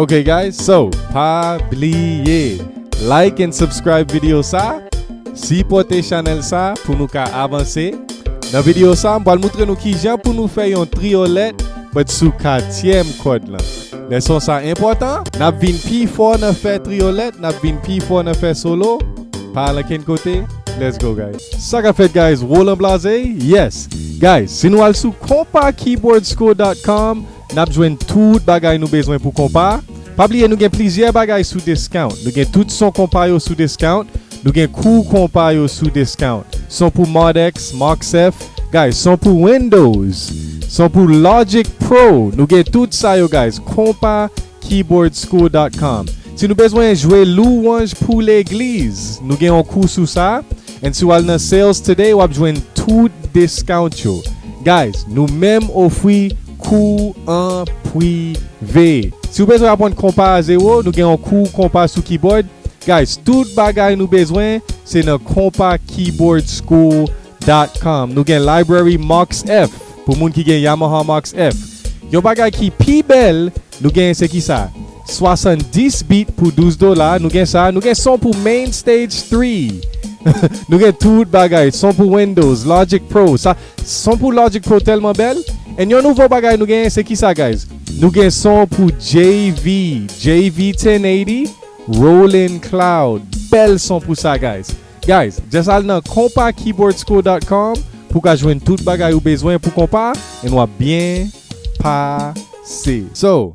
Ok guys so pa bliye like and subscribe video sa sipote chanel sa pou nou ka avanse nan video sa m pral moutre nou kijan pou nou fè yon triolet but sou katyèm kòd lan. Leson sa enpòtan, n ap vin pi fò nan fè triyolèt, n ap vin pi fò nan fè solo, pa al ankenn kote, let's go guys. Sa kap fèt guys Roland Blaze yes guys si nou al sou konpakeyboardschool.com nap jwenn tout bagay nou bezwen pou konpa pa bliye nou gen plizyè bagay sou discount nou gen tout son konpa yo sou discount Nou gen kou konpa yo sou discount. Son pou Mardex, Marxef, guys son pou Windows, son pou Logic Pro, nou gen tout sa yo guys konpa keyboardschool.com Si nou bezwen jwe louwanj pou legliz, nou gen yon kou sou sa, and si w al nan sales today wap jwenn tout discount yo. Guys, nou menm ofri. Kou an pri ve. Si ou bezwen aprann konpa a zewo nou gen yon kou konpa sou kibòd guys tout bagay nou bezwen se nan konpa kibòd school dot com nou gen library max F pou moun ki gen yamaha max F yon bagay ki pi bèl nou gen se ki sa 70 bit pou 12 dola nou gen sa nou gen son pou main stage 3 nou gen tout bagay son pou windows logic pro sa. Son pou Logic Pro tèlman bèl and yon nouvo bagay nou genyen se kisa guys nou gen son pou JV JV 1080 Rolling Cloud bèl son pou sa guys guys just al nan konpakeyboardschool.com pou ka jwenn tout bagay ou bezwen pou konpa and wap byen pase so.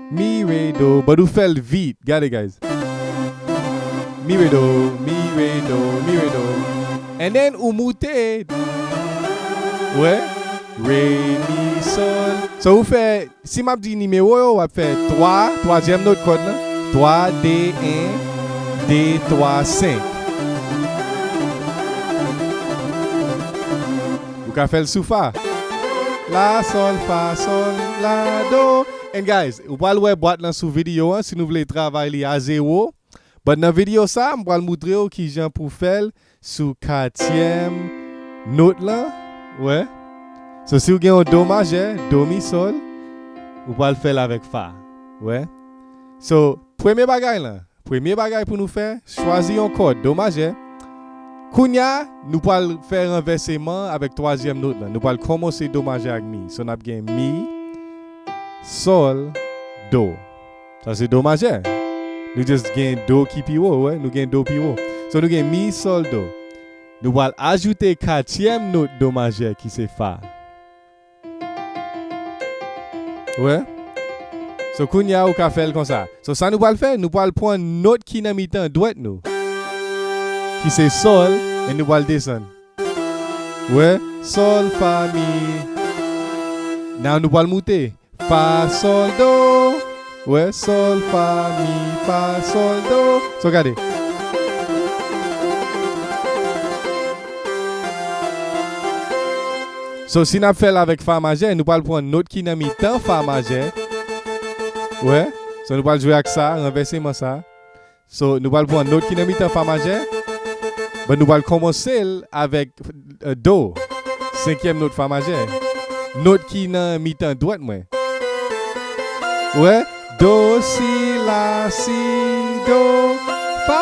Mi re do but ou fel vit gade guys Mi re do mi re do mi re do and then ou moute ou wè Re mi sol So ou fè si map di nimewo yo wap fè 3 twazyèm not kòd lan 3 2 1 2 3 5 Ou ka fèl sou fa La sol fa sol la do And guys, ou pral wè bwat lan sou video an si nou vle travay li a zero, but nan video sa m pral moutre ou kijan pou fèl sou katyèm note lan, wè So si ou gen yon do majè, do mi sol, ou pral fèl avèk fa, wè So premye bagay lan, Premye bagay pou nou fè, chwazi yon kòd do majè. Kounye a, nou pral fè ranvèseman avèk twazyèm not la. Nou pral kòmanse do majè ak mi. So n ap gen mi, sòl, do. Sa se do majè. Nou just gen do ki pi wo, ou wè, nou gen do pi wo. So nou gen mi, sòl, do. Nou pral ajoute katyèm not do majè ki se fa. Ou wè? So kounye a ou ka fè l konsa. So sa nou pral fè, nou pral pran nòt ki nan mitan dwèt nou. Ki se sòl e nou pral desann. Ou wè? Sòl, fa, mi. Now nou pral moute. Fa, sòl, do. Ré sol fa mi fa sol do so gade. So si nap fèl avèk fa majè nou pral pran not ki nan mitan fa majè wè so nou pral jwe ak sa ranvèseman sa So, nou pral pran not ki nan mitan fa majè, but nou pral kòmanse l avèk do, senkyèm not fa majè. Not ki nan mitan dwèt mwen. Ou wè? Do, si, la, si, do, fa.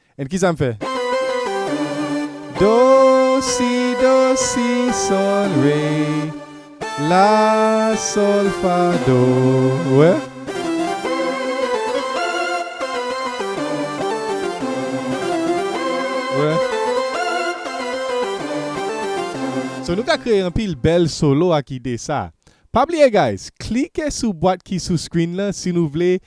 And kisa m fè? Do si do si sol re la sol fa do ou wè. Ou wè. So nou ka kreye anpil bèl solo ak ide sa. Pa bliye guys, klike sou bwat ki sou screen lan si nou vle